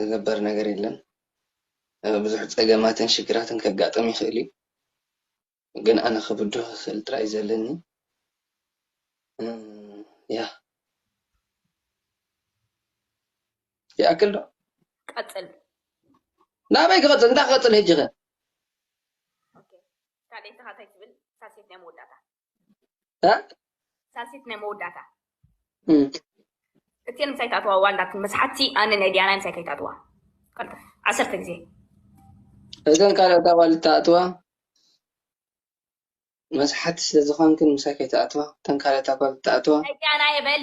ዝገበር ነገር የለን ብዙሕ ፀገማትን ሽግራትን ከጋጥም ይኽእል እዩ ግን ኣነ ክብድሆ ስል ጥራይ ዘለኒ ያ ይኣክል ዶ ቀፅል ናበይ ክቐፅል እንታይ ክቐፅል ሕጂ ኸ ካልኣይትኻ እንታይ ትብል ሳልሰይት ናይ መወዳእታ ሳልሲት ናይ መወዳእታ እትየን ምሳይ ታትዋ ዋንዳትን መስሓቲ ኣነ ናይ ዲያናይ ምሳይ ከይታትዋ ቀልጠፍ ዓሰርተ ግዜ እዘን ካልኦት ኣዋል እተኣትዋ መስሓቲ ስለ ዝኾንክን ምሳይ ከይትኣትዋ እተን ካልኦት ኣጓል እተኣትዋ ናይ ዲያና የበል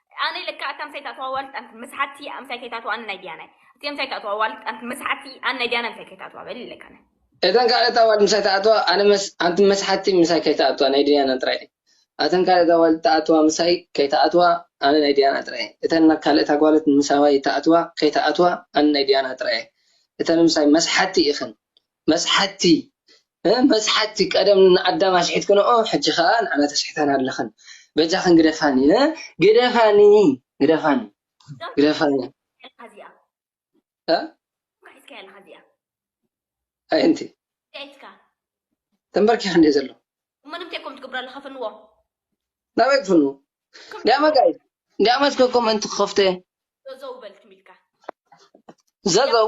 ኣነይ ለካ እታ ምሳይ ትኣትዋ ዋልት ኣንክ መስሓቲ እያ ምሳይ ከይታትዋ ኣነ ናይ ድያናይ እቲ ምሳይ ትኣትዋ ዋልት ኣንክ መስሓቲ ኣነ ናይ ድያናይ ምሳይ ከይታትዋ በሊ ለካ ኣነ እተን ካልኦት ኣዋልድ ምሳይ ትኣትዋ ኣነ መስ ኣንቲ መስሓቲ ምሳይ ከይትኣትዋ ናይ ድያና ጥራይ እየን ኣተን ካልኦት ኣዋልድ ትኣትዋ ምሳይ ከይትኣትዋ ኣነ ናይ ድያና ጥራይ እየን እተን ካልኦት ኣጓልት ምሳዋይ ትኣትዋ ከይትኣትዋ ኣነ ናይ ድያና ጥራይ እየን እተን ምሳይ መስሓቲ ኢኽን መስሓትቲ እ መስሓትቲ ቀደም ን ኣዳም ኣሽሒትክንኦ ሕጂ ከኣ ንዓና ተሽሕታና ኣለኽን በጃኽን ግደፋኒ እ ግደፋኒ ግደፋኒ ግደፋኒ እ እ ዱካ ሒዝካያ ኣለኻ እዚኣ ኣየንቲይ እንታይ ኢትካ ተምበርኪኹ እንድየ ዘለኹ እሞ ንምታይ ኮምት ትገብሮ ኣለኻ ፍንዎ ናበይ ክፍንዎ ዳማ ጋይስ ዳማ እስከ ኮመንት ክኸፍቶ እየ ዘዘው በል ትም ኢልካ ዘዘው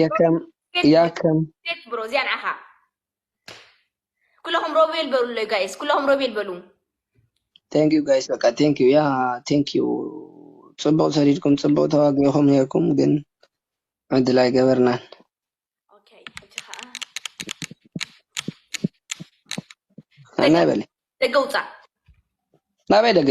የከም ያከም ሴት ብሮ እዚኣ ንዓኻ ኩለኹም ሮቤል በሉለይ ጋይስ ኩለኹም ሮቤል በሉ ቴንክ ዩ ጋይስ በቃ ቴንክ ዩ ያ ቴንክ ዩ ጽቡቅ ሰሪድኩም ጽቡቅ ተዋጊኹም ነርኩም ግን ዕድል ኣይገበርናን ኦኬ እቲ ከዓ ኣናይ በለ ደገ ውፃእ ናበይ ደገ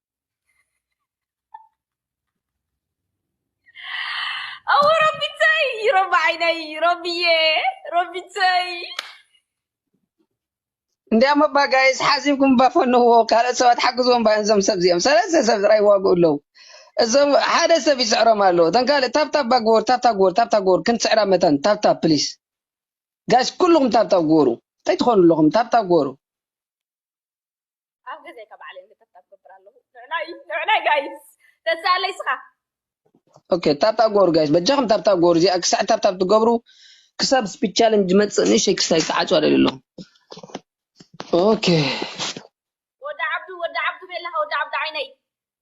ኣወ ረቢተይ ረቢ ዓይነይ ረቢየ ረቢተይ እንዲያም እባ ጋይስ ሓዚብኩም እባ ፈንዎ ካልኦት ሰባት ሓግዝዎም እባ እዞም ሰብ እዚኦም ሰለስተ ሰብ ጥራይ ይዋግኡ ኣለዉ እዞም ሓደ ሰብ ይስዕሮም ኣሎ እተን ካልእ ታብታብ እባ ግበሩ ታብታብ ግበሩ ታብታብ ግበሩ ክንስዕራ መታን ታብታብ ፕሊስ ጋይስ ኩልኹም ታብታብ ግበሩ እንታይ ትኾኑ ኣለኹም ታብታብ ግበሩ ኣብ ገዛይ ካብ ባዕለይ እንድታብ ታብ ገብር ኣለኹ ንዕናይ ንዕናይ ጋይስ ተዛለይ ስኻ ኦኬ ታብታ ጎሩ ጋይስ በጃኹም ታብታ ጎሩ እዚኣ ክሳዕ ታብታ ትገብሩ ክሳብ ስፒድ ቻለንጅ መፅእ ንእሸይ ክሳይ ተዓፁ ኣደልዩ ኣለኹ ኦኬ ወዲ ዓብዱ ወዲ ዓብዱ ቤላኻ ወዲ ዓብዱ ዓይነይ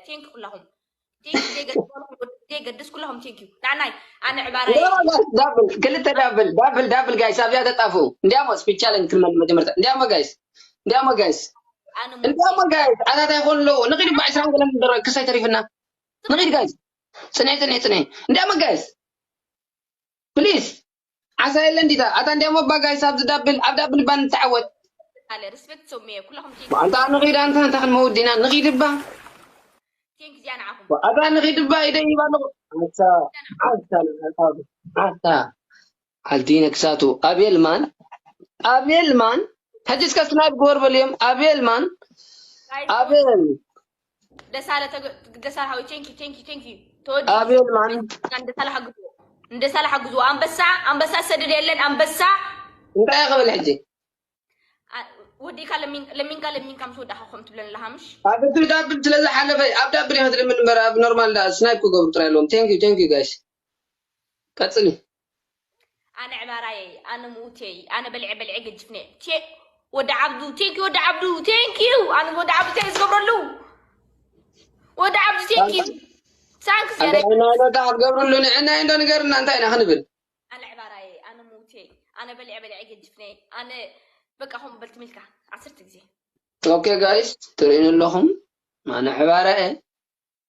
ቴንክ ኩላኹም ቴንክ ዘይገድስ ኩላኹም ቴንክ ዩ ናናይ ኣነ ዕባራ ዳብል ክልተ ዳብል ዳብል ዳብል ጋይስ ኣብዚኣ ተጣፍኡ እንዲያሞ ስፒድ ቻለንጅ ክንመል መጀመርታ እንዲያሞ ጋይስ እንዲያሞ ጋይስ ኣነ እንዲያሞ ጋይስ ዓታት ኣይኮኑ ኣለዉ ንኺድ እባ ዕስራን ገለን ደረ ክሳይ ተሪፍና ንኺድ ጋይስ ፅንዒ ፅንዒ ፅንዒ እንዲያሞ ጋይስ ፕሊዝ ዓሳ የለን ዲታ ኣታ እንድያም እባ ጋይስ ኣብዚ ዳብል ኣብ ዳብል እባ ንተዓወት። ኣለ ርስበት ሶምየ ኩላኹም ቴንክስ ኣታ ንኺድ ኣንታ እንታይ ክንመውት ዲና ንኺድ እባ ቴንክስ እያ ንዓኹም ኣታ ንኺድ እባ ኢደይ ሂብ ኣለኹ ኣታ ኣታ ንዓኻ ኣታ ዓልቲ ነክሳቱ ኣቤል ማን ኣቤል ማን ሕጂ እስከ ስናይፕ ግበር በልዮም ኣቤል ማን ጋይስ ኣቤል ደሳለ ተገ- ደሳለ ሀዊ ቴንክ ዩ ቴንክ ዩ ቴንክ ዩ ተወዲ አቤል ማን ደሳለ ሓግዙ ደሳለ ሓግዙ ኣንበሳ ኣንበሳ ሰድድ የለን ኣንበሳ እንታይ ክብል ሕጂ ኣ- ወዲእካ ለሚን- ለሚንካ ለሚንካ ምስ ወዳእካ ከም ትብለን ኣለካ ምሽ ኣብ እቲ ዳብል ስለ ዝሓለፈ ኣብ ዳብል እየ ክትልምን እምበር ኣብ ኖርማል ዳ ስናይፕ ክገብሩ ጥራይ ኣለዎም ቴንክ ዩ ቴንክ ዩ ጋይስ ቀፅሊ ኣነ ዕባራየይ ኣነ ምውቴይ ኣነ በልዐ በልዐ ገጅፍነ ቴ ወዲ ዓብዱ ቴንኪ ወዲ ዓብዱ ቴንኪዩ ኣነ ወዲ ዓብዱ ቴ ዝገብረሉ ወዲ ዓብዱ ቴንኪዩ ሳንክስ ያረ ኣንዳይና ዶታ ክትገብርሉ ንዕና እንዶ ንገርና እንታይ ኢና ክንብል ኣነ ዕባራየይ ኣነ ምውቴይ ኣነ በልዐ በልዐ ገጅፍነ ኣነ በቃ ከምኡ በልቲ ሚልካ ዓሰርተ ግዜ ኦኬ ጋይስ ትርእዩኒ ኣለኹም ኣነ ዕባረ እየ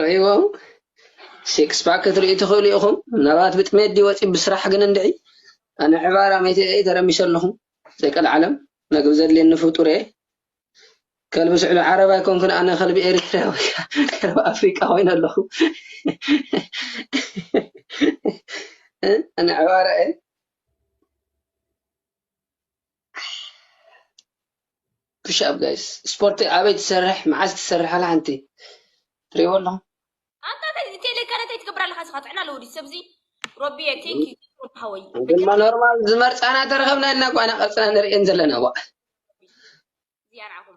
ርእይዎም ሲክስ ፓክ ክትርእዩ ትኽእሉ ኢኹም ምናልባት ብጥሜት ድዩ ወጺኡ ብስራሕ ግን እንድዒ ኣነ ዕባራ መይተ እየ ተረሚሰ ኣለኹ ዘይቀልዓለም መግቢ ዘድልየኒ ፍጡር እየ ከልቢ ስዕሉ ዓረብ ኣይኮንኩን ኣነ ከልቢ ኤሪትራ ወይ ከልቢ ኣፍሪቃ ኮይነ ኣለኹ ኣነ ዕባራ እየ ፑሽ ኣፕ ጋይስ ስፖርቲ ኣበይ ትሰርሕ መዓስ ትሰርሕ ኣላ ሓንቲ ትሪእዎ ኣለኹም ኣታተይ ቴሌ ከረተይ ትገብር ኣለካ ስኻ ጥዕና ኣለዎ ድዩ ሰብዚ ሮቢየ ቴንክ ዩ ሃወይ ድማ ኖርማል ዝመርፃና ተረኸብና እና ኳና ቀፅና ንርእየን ዘለና ዋ እዚኣ ንዓኹም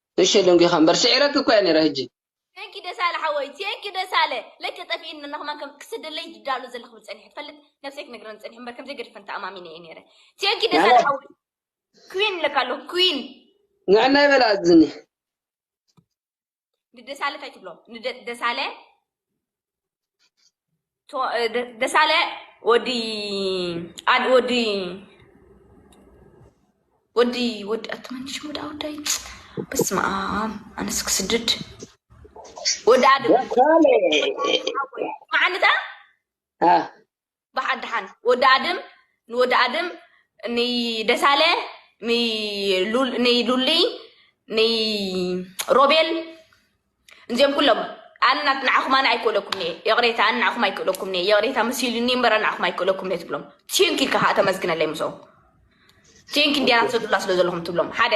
ንእሸተይ ደንጒኻ እምበር ስዒረኪ እኮ እየ ነይረ ህጂ። ቴንኪ ደሳለ ሓወይ ቴንኪ ደሳለ ለከ ጠፊእኒ እና ከማን ከም ክሰደለይ ድዳሎ ዘለክ ብል ጸኒሐ ትፈልጥ ነብሰይ ክነግረን ጸኒሐ እምበር ከምዘይ ገድፈን ተኣማሚነ እየ ነይረ ቴንኪ ደሳለ ንዕና ሓወይ ኩዊን እለካ ኣለኩ ኩዊን ንዕና ይበል ኣዝኒ ንደሳለ ታይ ትብሎ ንደ- ደሳለ ደሳለ ወዲ ኣድ ወዲ ወዲ ወዲ ኣትመን ሽሙ ዳ ወዳይ በስመ ኣብ ኣነስ ክስድድ ወዲ ኣድ ደሳለ መዓልታ አ ባሓ ዳሓን ወዲ ኣድም ን ወዲ ኣድም ን ደሳለ ን ን ሉሊ ን ሮቤል ንዚኦም ኩሎም ኣነ ናት ንዓኹም ኣነ ኣይክእለኩም እየ ይቕሬታ ኣነ ንዓኹም ኣይክእለኩም እየ ይቕሬታ መሲሉኒ እምበር ኣነ ንዓኹም ኣይክእለኩም እየ ትብሎም ቲንክ ኢልካ ከዓ ተመስግነለይ ምስኦም ቲንክ እንዲያ ናት ዘድላ ስለ ዘለኹም ትብሎም ሓደ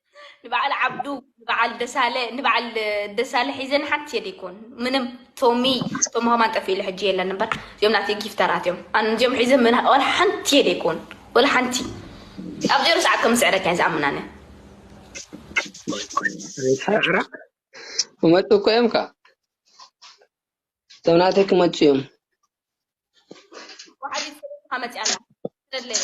ንበዓል ዓብዱ ንበዓል ደሳለ ንበዓል ደሳለ ሒዘን ሓንቲ የደ ይኮን ምንም ቶሚ ቶም ሃማን ጠፊ ኢለ ሕጂ የለን እምበር እዚኦም ናተይ ጊፍተራት እዮም ኣነ እዚኦም ሒዘ ምና ወላ ሓንቲ የደ ይኮን ወላ ሓንቲ ኣብ ዜሮ ሰዓት ከም ስዕረካ እየ ዝኣምናነ ኣይትስዕራ ክመፁ እኮ እዮም ከዓ እቶም ናተይ ክመፁ እዮም ወሓዲት ሰበይትካ መፅያ ኣላ ስለለያ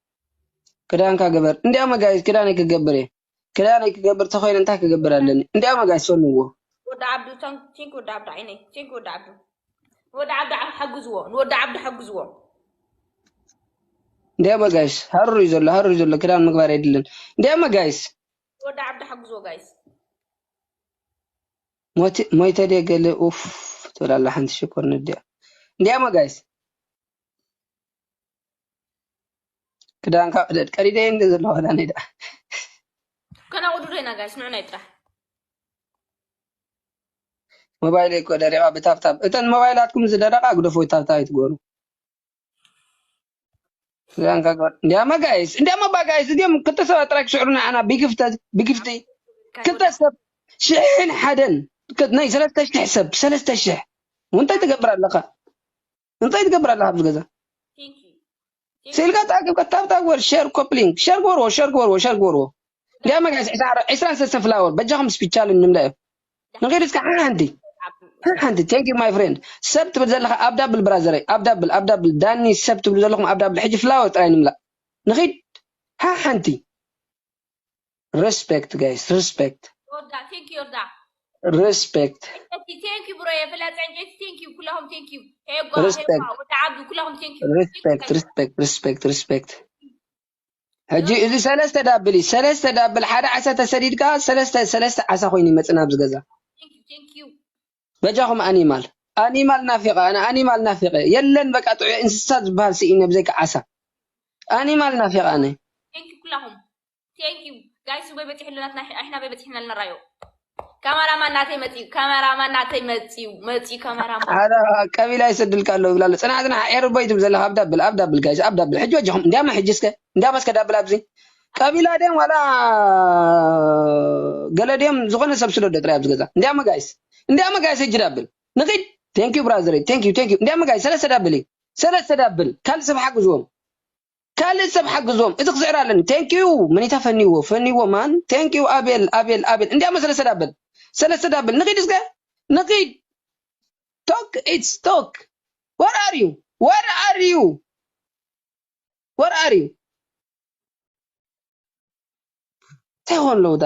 ክዳንካ ግበር እንዲያ መጋቢት ክዳነይ ክገብር እየ ክዳነይ ክገብር ተኮይነ እንታይ ክገብር ኣለኒ እንዲያ መጋቢት ሰልዎ ወዲ ዓብዱ ቲንክ ወዲ ዓብዱ ዓይነይ ቲንክ ወዲ ዓብዱ ንወዲ ዓብዱ ሓግዝዎ ንወዲ ዓብዱ ሓግዝዎ እንዲያ መጋይስ ሃሩር እዩ ዘሎ ሃሩር እዩ ዘሎ ክዳን ምግባር የድልን እንዲያ መጋይስ ወዲ ዓብዱ ሓግዝዎ ጋይስ ሞይተ ድየ ገለ ኡፍ ትብል ኣላ ሓንቲ ሽኮር ንድያ እንዲያ መጋይስ ክዳንካ ቅደድ ቀዲደ እንደ ዘለዋ ክዳነይ ደኣ ከናቁዱ ዶ ኢና ጋይስ ንዑናይ ጥራሕ ሞባይለይ እኮ ደሪቓ ብታብታብ እተን ሞባይላትኩም ዝደረቓ ግደፉ ብታብታብ ኣይትግበሩ ክዳንካ ግበር እንዲያማ ጋይስ እንዲያማ ባ ጋይስ እዚኦም ክልተ ሰባት ጥራይ ክስዕሩ ንዓና ብግፍተ ብግፍቲ ክልተ ሰብ ሽሕን ሓደን ክ- ናይ ሰለስተ ሽሕ ሰብ ሰለስተ ሽሕ እንታይ ትገብር ኣለኻ እንታይ ትገብር ኣለካ ኣብዚ ገዛ ስኢልካ ተኣኪብካ ታብታብ ወር ሸር ኮፕሊንግ ሸር ግበርዎ ሸር ግበርዎ ሸር ግበርዎ እንዲያ መጋስ ዕስራን ሰለስተ ፍላወር በጃኹም ስፒቻል ንምዳዮ ንኺድ እስካ ሓንቲ ሓንቲ ቴንክ ዩ ማይ ፍሬንድ ሰብ ትብል ዘለካ ኣብ ዳብል ብራዘረይ ኣብ ዳብል ኣብ ዳብል ዳኒ ሰብ ትብሉ ዘለኹም ኣብ ዳብል ሕጂ ፍላወር ጥራይ ንምላእ ንኺድ ሓንቲ Respect guys, respect. ዮርዳ ቴንክ ዮርዳ Respect. ዕንጨይቲ ቴንክ ዩ ብሮየ ፍላጥ ዕንጨይቲ ቴንክ ዩ ኩላኹም ቴንክ ዩ ሄጓ Respect. ሄጓ ወዲ ዓዱ ኩላኹም ቴንክ ዩ Respect, respect, respect, respect. ሕጂ እዚ ሰለስተ ዳብል እዩ ሰለስተ ዳብል ሓደ ዓሳ ተሰዲድካ ሰለስተ ሰለስተ ዓሳ ኮይኑ ይመጽእ ናብዚ ገዛ ቴንክ ዩ ቴንክ ዩ በጃኹም ኣኒማል ኣኒማል ናፊቐ ኣነ ኣኒማል ናፊቐ የለን በቃ ጥዑይ እንስሳ ዝበሃል ስኢነ ብዘይካ ዓሳ ኣኒማል ናፊቐ ኣነ ቴንክ ዩ ኩላኹም Thank you. Guys, ሱበይ በፂሑልና ኣሕና በይ በፂሕና ልንራዮ ካሜራማን ናተይ መፅዩ ካሜራማን ናተይ መፅዩ መፅዩ ካሜራማን ሓደ ቀቢላ ይሰድልካ ኣለዉ ይብላ ኣሎ ፅና ፅና ኤርቦ ይትብ ዘለካ ኣብ ዳብል ኣብ ዳብል ጋይስ ኣብ ዳብል ሕጂ ወጀኹም እንዲያማ ሕጂ እስከ እንዲያማ እስከ ዳብል ኣብዚ ቀቢላ ድዮም ዋላ ገለ ድዮም ዝኾነ ሰብ ስደዶ ጥራይ ኣብዚ ገዛ እንዲያማ ጋይስ እንዲያማ ጋይስ ሕጂ ዳብል ንኺድ ቴንኪዩ ብራዘረይ ቴንኪዩ ቴንኪዩ እንዲያማ ጋይስ ሰለስተ ዳብል እዩ ሰለስተ ዳብል ካልእ ሰብ ሓግዝዎም ካልእ ሰብ ሓግዞም እዚ ክስዕር ኣለኒ thank you መኒታ ፈኒዎ ፈኒዎ ማን thank you ኣቤል ኣቤል ኣቤል እንዲያሞ ሰለስተ ዳበል ሰለስተ ዳበል ንኺድ እስከ ንኺድ ቶክ ኢትስ ቶክ where are you where are you where are you እንታይ ኾን ኣለዉ ዳ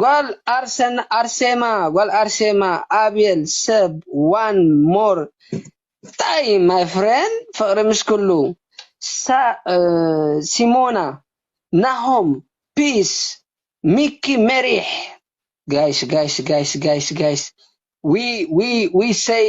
ጓል ኣርሰን ኣርሴማ ጓል ኣርሴማ ኣቤል ሰብ ዋን ሞር ታይም ማይ ፍሬንድ ፍቅሪ ምስ ኩሉ ሲሞና ናሆም ፒስ ሚኪ ሜሪሕ ጋይስ ጋይስ ጋይስ ጋይስ ጋይስ ዊ ዊ ዊ ሰይ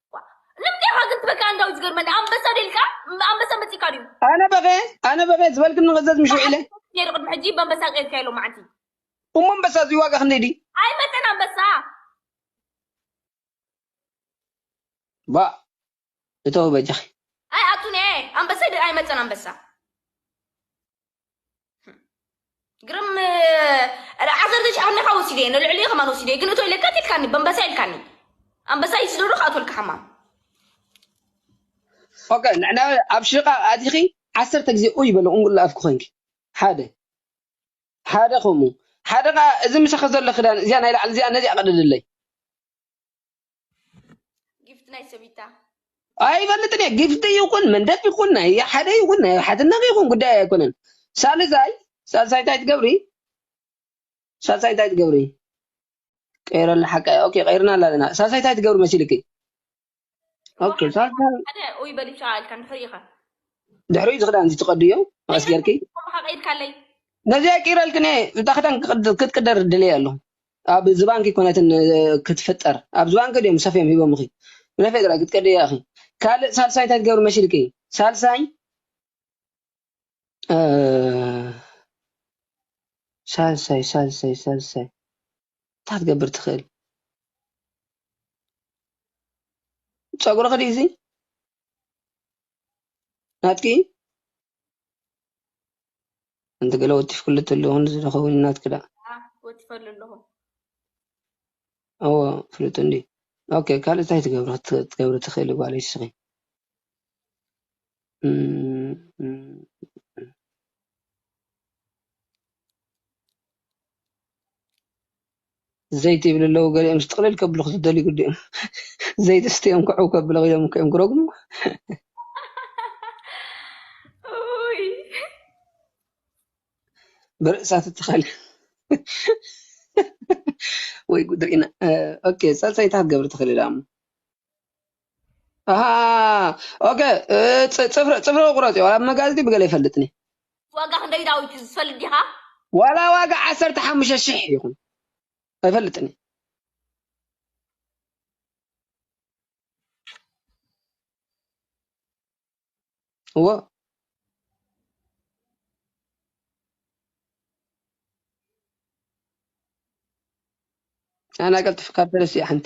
ንምንታይ ኢኻ ግን ትበክይ ኣንዳዊት ዝገርመኒ ኣንበሳ ደልካ ኣንበሳ መጺእካ ድዩ ኣነ በኸ ኣነ በኸ ዝበልክን ንኽዘዝ ምሽ ውዒለ ነይሩ ቅድሚ ሕጂ በንበሳ ቀይርካዮ ሎም መዓንቲ እሞ ኣንበሳ እዚ ዋጋ ክንደይ ድዩ ኣይመጠን ኣንበሳ ባ እተው በጃኺ ኣይ ኣቱን እየ ኣንበሳ ደ- ኣይመጠን ኣንበሳ ግርም ዓዘር ዘሽ ኣምልካ ወሲደ እየ ንልዕሊ ከማን ወሲደ እየ ግን እቶ ኢለካ ትልካኒ በንበሳ ኢልካኒ ኣንበሳ እዩ ስደዶ ክኣትወልካ ሓማም ኦከ ንሕና ኣብ ሽቓቕ ኣቲኺ ዓሰርተ ግዜ ኡይ በለ ቁንቁላ ኣፍኪ ኮንኪ ሓደ ሓደ ከምኡ ሓደ ከዓ እዚ ምሳኺ ዘሎ ክዳን እዚኣ ናይ ላዕሊ እዚኣ ነዚኣ ቅደድለይ ጊፍት ናይ ሰቢታ ኣይፈልጥን እየ ጊፍቲ ይኹን መንደፍ ይኹን ናይ ሓደ ይኹን ናይ ሓትነኽ ይኹን ጉዳይ ኣይኮነን ሳልሳይ ሳልሳይ እንታይ ትገብሪ ሳልሳይ እንታይ ትገብሪ ቀይረላ ሓቃ እያ ኦኬ ቀይርና ኣለና ሳልሳይ እንታይ ትገብሪ መሲልኪ ኦኬ ሳልሳይ ሓደ ኡይ በሊብሻ ኢልካ ንድሕሪ ኢኻ ድሕሪ እዚ ክዳን እዚ ትቀድዮ መቐስ ጌርኪ ከምኻ ቀይድካለይ ነዚኣ ቀይረልክን እየ እታ ክዳን ክትቅደር ድልየ ኣሎ ኣብ ዝባንኪ ኩነት ን ክትፍጠር ኣብ ዝባንኪ ድዮም ሰፍዮም ሂቦምኺ ንፌደራል ክትከድያ ኢኺ ካልእ ሳልሳይ እንታይ ትገብሪ መሲልኪ ሳልሳይ ሳልሳይ ሳልሳይ ሳልሳይ እንታይ ክትገብር ትኽእል ፀጉርኺ ድዩ እዚ ናትኪ ኣንቲ ገለ ወቲፍክሉ ተለኹ እዚ ዶ ይኸውን ናትኪ ደኣ ወቲፈሉ ኣለኹ ኣዎ ፍሉጥ እንድዩ ኦኬ ካልእ እንታይ ትገብሪ ክትገብሪ ትኽእሊ ጓለይ ንስኺ ዘይቲ ይብሉ ኣለዉ ገሊኦምስ ጥቕልል ከብሉ ክትደልዩ ግድእም ዘይቲ ስትዮም ክዕው ከብለ ኢሎም እኮ እዮም ክረግሙ ኡይ ብርእሳ ትተኸለ ወይ ጉድ ርኢና ኦኬ ጸጸይታ ክትገብሪ ትኽእሊ ዳሞ ኣሃ ኦኬ እ፣ ጽ- ጽፍሪ ጽፍሪ ቁረጽ ዋላ መጋዝቲ ብገለ ይፈልጥኒ ዋጋ ክንደይ ዳዊት እዩ ዝፈልጥ ዲኻ ዋላ ዋጋ ዓሰርተ ሓሙሽተ ሽሕ ይኹን ኣይፈልጥኒ እዎ ኣና ቀልጥፍ ካብ ፈለስ እያ ሓንቲ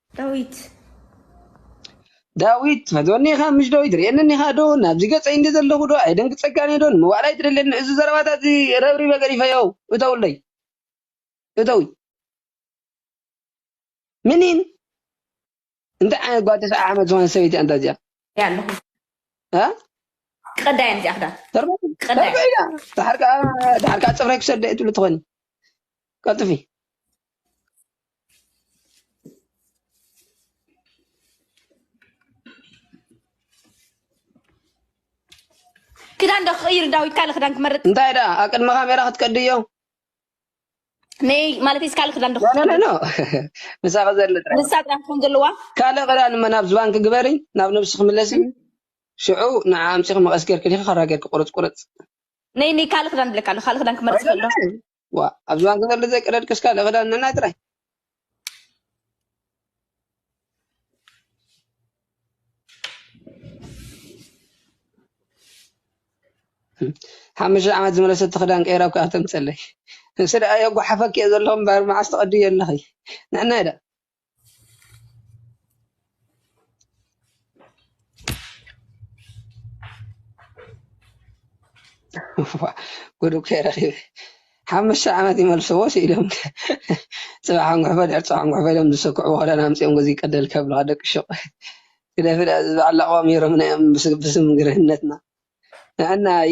ዳዊት። ዳዊት። ፈትወኒ ኢኻ ምሽ ዶ ይትርእየኒ ኢኻ ዶ ናብዚ ገጸይ እንዲ ዘለኹ ዶ ኣየደንግጸካን እየ ዶ ንምባል ኣይትደልየኒ እዚ ዘረባታትዚ ረብሪበ ገዲፈዮ እተውለይ እተዊ ምኒን እንታይ ዓይነት ጓል ተስዓ ዓመት ዝኾነት ሰበይቲ እያ ኣንታ እዚኣ። ኣለኹ ክቀዳ እየን እዚኣ ክዳን ክቀዳ እየን። ተርበያ ድሓር ከዓ ድሓር ከዓ ፅፍረይ ክሰደ እየ ትብሉ ትኾኒ ቀልጥፊ ክዳን ዶ ክቕይር ዳዊት ካልእ ክዳን ክመርጥ እንታይ ደኣ ኣብ ቅድሚ ካሜራ ክትቀድዮ ነይ ማለት እስካል ክዳን ዶክ ኖ ኖ ምሳኺ ዘሎ ጥራይ ንሳ ጥራይ ትኾን ዘለዋ ካልእ ክዳን እመ ናብ ዝባንኪ ግበሪ ናብ ነብስኺ ምለሲ ሽዑ ንዓ ኣምፂኺ መቐስ ጌርኪ ዲኺ ካራ ጌርኪ ቁርፅ ቁርፅ ነይ ነይ ካልእ ክዳን ብለካ ኣሎ ካልእ ክዳን ክመርፅ ከሎ ዋ ኣብ ዝባንኪ ዘሎ ዘይቀደድክስ ካልእ ክዳን ነናይ ጥራይ ሓሙሽተ ዓመት ዝመለሰቲ ክዳን ቀይራ እኳ ተምፀለይ ንስ ደኣ የጓሓፈኪ እየ ዘለኹ እምበር መዓስ ትቐድዮ ኣለኺ ንሕና ኢዳ ጉድ እኮ እየ ረኺበ ሓሙሽተ ዓመት ይመልስዎ ስኢሎም ፅባሕ ኣንጉሕፎ ድሕር ፅባሕ ኣንጉሕፎ ኢሎም ዝስክዕዎ ክዳን ኣምፂኦም ገዚ ቀደል ከብልኻ ደቂ ሹቕ ግደፊ ደኣ እዚ በዓል ላቕዋም ዩሮ ምነ እም ብስም ግርህነትና ንዕናይ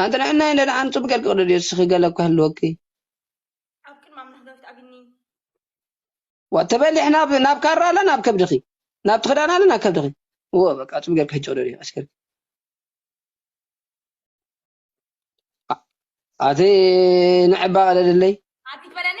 ኣንቲ ንሕናይ እንደ ኣንቲ ጽቡቅ ጌርኪ ቅደድዮ እስኺ ገለ እኮ ይህልወኪ ኣብ ቅድሚ ኣምላኽ ዳዊት ኣብኒ ዋ ተበሊሕ ናብ ናብ ካራ ኣለ ናብ ከብድኺ ናብቲ ክዳን ኣለ ናብ ከብድኺ ወ በቃ ጽቡቅ ጌርኪ ሕጂ ቅደድዮ ቀስ ጌርኪ ኣቲ ንዕባ ቅደድለይ ኣቲ ትበለኒ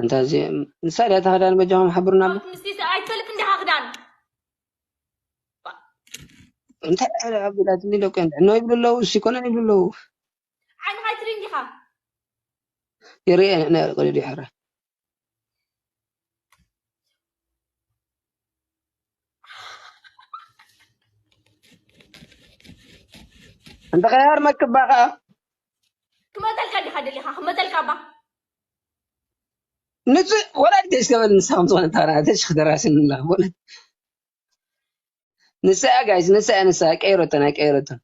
ኣንታ እዚ ንሳ ድያ እታ ክዳን በጃኹም ሓብሩና ኣሎ ምስቲ ኣይትፈልጥ እንዲኻ ክዳን እንታይ ዕረ ኣቢላትኒ ደቂ ዕኖ ይብሉ ኣለዉ እሲ ኮነን ይብሉ ኣለዉ ዓይንኻ ይትሪ እንዲኻ ይርኤ ንዕነ ቅድድ ይሕረ እንተ ኸያር መክባ ከዓ ክመፀልካ ዲኻ ደሊኻ ክመፀልካ እባ ንፁ ወላድ ገሽ ተበል ንሳ ከም ዝኾነ ታራ ተሽክ ደራስን ንላ ወላድ ንሳ እያ ጋይስ ንሳ እያ ንሳ ቀይረቶን ኣይቀይረቶን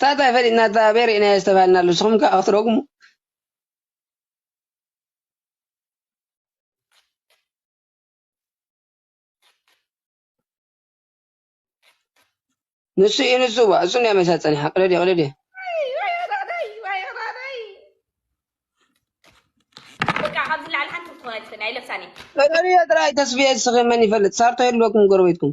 ታታ ፈሊጥና እታ ቤር ኢና ዝተባሃልና ኣሎ ንስኹም ከዓ ክትረግሙ ንሱ እዩ ንሱ ዋ እሱ ናይ መሳ ፀኒሓ ቅደድ ቅደድ ቅደድዮ ጥራይ ተስፍየ እስኺ መን ይፈልጥ ሳርቶ የልበኩም ጎረቤትኩም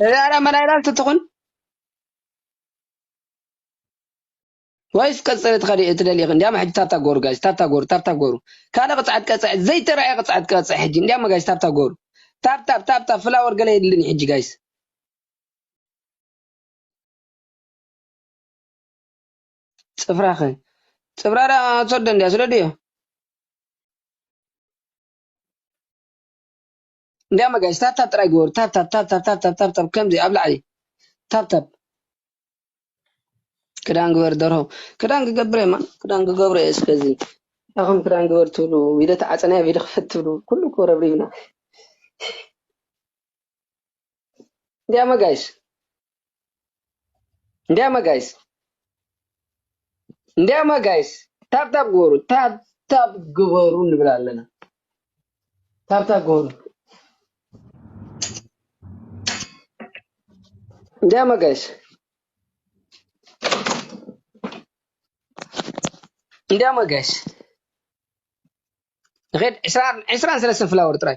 እዚኣ ድኣ መላ ኢላልቲ ትኹን ወይስ ቀጽሪ ትኸዲ ትደልዪ ኢኺ? እንድያም ሕጂ ታብታ ጎሩ ጋይስ ታብታ ጎሩ ታብታ ጎሩ ካልእ ቅጽዓት ቀጽዕ ዘይተራእየ ቅጽዓት ቀጽዕ ሕጂ እንድያም ጋይስ ታብታ ጎሩ ታብ ታብ ታብ ታብ ፍላወር ገለ የድልን እዩ ሕጂ ጋይስ ጽፍራኸ ጽፍራ ድኣ ትሰዶ እንድያ ስደድዮ እንድያም ኣጋይሽ ታብታብ ጥራይ ግበሩ ታብታብ ታብታብ ታብታብ ታብታብ ከምዚ ኣብ ላዕሊ ታብታብ ክዳን ግበር ደርሆ ክዳን ክገብር እየ ክዳን ክገብር እየ እስከዚ ኣኹም ክዳን ግበር ትብሉ ቪድዮ ተዓፀናዮ ቪድዮ ክፈት ትብሉ ኩሉ እኮ ረብሪብና እንዲያማ ጋይስ እንዲያማ ጋይስ እንዲያማ ጋይስ ታብታብ ግበሩ ታብታብ ግበሩ ንብል ኣለና ታብታብ ግበሩ እንዲያማ ጋይስ እንዲያማ ጋይስ ንኸድ ዕስራን ሰለስተን ፍላወር ጥራይ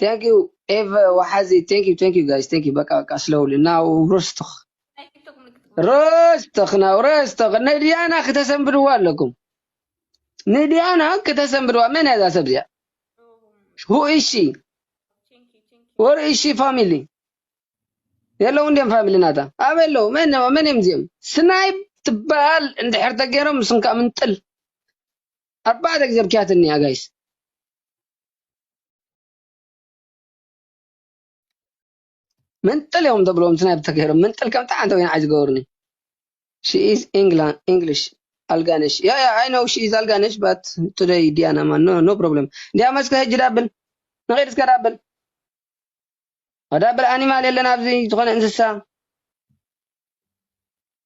Thank you ኤቨ ወሓዚ Thank you Thank you guys Thank you በቃ በቃ ስለውሊ ናው ሮስቶኽ ሮስቶኽ ናው ሮስቶኽ ንድያና ክተሰንብድዋ ኣለኩም ንድያና ክተሰንብድዋ መን እያ እዛ ሰብ እዚኣ ሁ እሺ ወር እሺ ፋሚሊ የለው እንዲም ፋሚሊ ናታ ኣበይ ኣለው መን መን እዮም እዚኦም ስናይብ ትበሃል እንድሕር ተገይሮም ምስንካ ምንጥል ኣርባዕተ ግዜ ብኪያትኒ እያ ጋይስ መንጥል እዮም ተብሎም ናይ ብተገይሮም መንጥል ከምቲ ዓንተ ወይን ዓይ ዝገበሩኒ ሽኢዝ ኢንግላንድ ኢንግሊሽ ኣልጋነሽ ያ ያ ኣይ ነው ሽኢዝ ኣልጋነሽ ባት ቱደይ ዲያና ማን ኖ ኖ ፕሮብለም እንዲያ መስከ ህጂ ዳብል ንኸይድ እስከ ዳብል ዳብል ኣኒማል የለን ኣብዚ ዝኾነ እንስሳ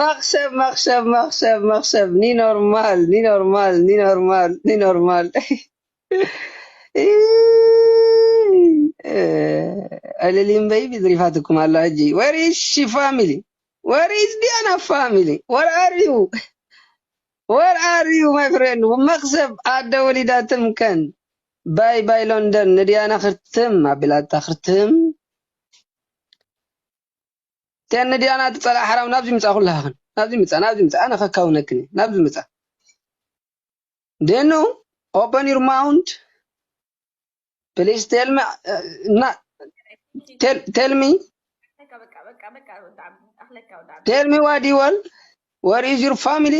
መኽሰብ መኽሰብ መኽሰብ መኽሰብ ኒኖርማል ኒኖርማል ኒኖርማል ኒኖርማል ዕልሊም በይቢ ዝሪፋትኩም ኣሎ ሕጂ ወር ኢዝ ሺ ፋሚሊ ወር ኢዝ ዲያና ፋሚሊ ወር ኣር ዩ ወር ኣር ዩ ማይ ፍሬንድ መኽሰብ ኣደ ወሊዳ ትምከን ባይ ባይ ሎንደን ንዲያና ክርትም ኣቢላታ ክርትም ቴን ድያ ናቲ ጸላኢ ሓራዊ ናብዚ ምጻ ኩላህክን ናብዚ ምጻ ናብዚ ምጻ ኣነ ከካውነክን እየ ናብዚ ምጻ ዴኑ ኦፐን ዩር ማውንት ፕሊስ ቴል ሚ እና ቴል ሚ ቴል ሚ ዋዲ ወል ወር ኢዝ ዩር ፋሚሊ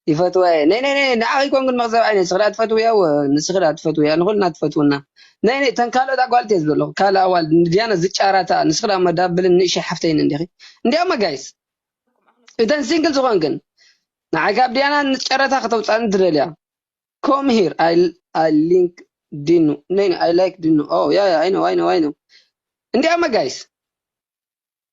ይፈትዋ እየ ነይ ነይ ነይ ንዓኺ ኮንግን መኽዘብ ዓይነ ንስኺ ድኣ ትፈትውያ እወ ንስኺ ድኣ ትፈትውያ ንኹልና ትፈትውና ነይ ነይ ተን ካልኦት ኣጓልት እየ ዝበለኹ ካልእ ኣዋልድ ንድያና ዝጫራታ ንስኺ ድኣ እሞ ዳብልን ንእሽይ ሓፍተይን እንዲኺ እንዲያማ ጋይስ እተን ሲንግል ዝኾንክን ንዓይ ካብ ድያና ንጨረታ ከተውጻኒ ትደልያ ኮም ሂር ኣይ ኣይ ሊንክ ዲኑ ነይ ነይ ኣይ ላይክ ዲኑ ኦ ያ ያ ኣይ ነው ኣይ ነው ኣይ ነው እንዲያማ ጋይስ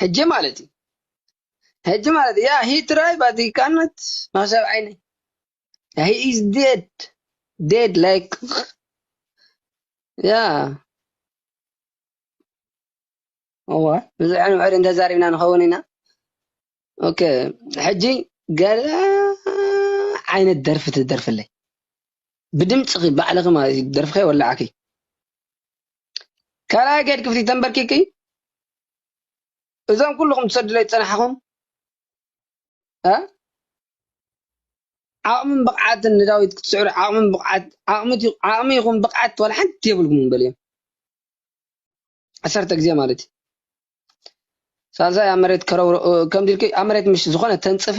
ሕጂ ማለት እዩ ሕጂ ማለት ያ ሂ ትራይ ባት ሂ ካናት ማሰብ ዓይነ ሂ ኢዝ ዴድ ዴድ ላይክ ያ እወ ብዙሕ ንውሕድ እንተዛሪብና ንኸውን ኢና ኦከ ሕጂ ገለ ዓይነት ደርፊ ትደርፍለይ ብድምፅኺ ባዕልኺ ማለት እዩ ደርፍኺ ኣይወላዕኪ ካልኣይ ገድ ክፍሊ ተንበርኪኪ እዞም ኩሉኹም ትሰዱለይ ዝጸናሕኹም ዓቕምን ብቕዓትን ንዳዊት ክትስዕሩ ዓቕምን ብቕዓት ዓቕሚ ይኹን ብቕዓት ዋላ ሓንቲ የብልኩምን በልዮም ዓሰርተ ግዜ ማለት እዩ ሳልሳይ ኣብ መሬት ከምዚ ኢልኪ ኣብ መሬት ምሽ ዝኾነ ተንጽፊ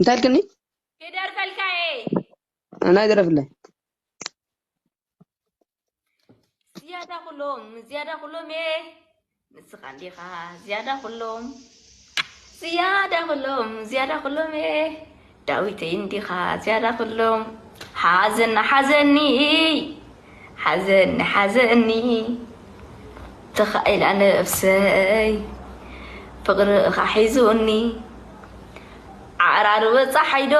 እንታይ ልክኒ ክደርፈልካ እየ ናይ ደረፍለይ ዝያዳ ኩሎም ዝያዳ ኩሎም እየ ንስኻ እንዲኻ ዝያዳ ኩሎም ዝያዳ ኩሎም ዝያዳ ኩሎም እየ ዳዊተይ እንዲኻ ዝያዳ ኩሎም ሓዘና ሓዘኒ ሓዘኒ ሓዘኒ ተኻኢላ ነብሰይ ፍቅርኻ ሒዙኒ ዓራር በፃሓይ ዶ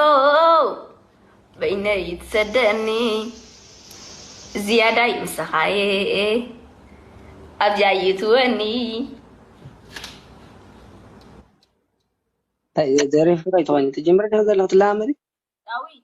በይነይ ትሰደኒ ዝያዳይ ምሳኻየ ኣብዚያ ይትወኒ ደሪፍካ ኣይትኾይኑ ትጅምሪ ዶ ዘለኹ ትለማመዲ ዳዊት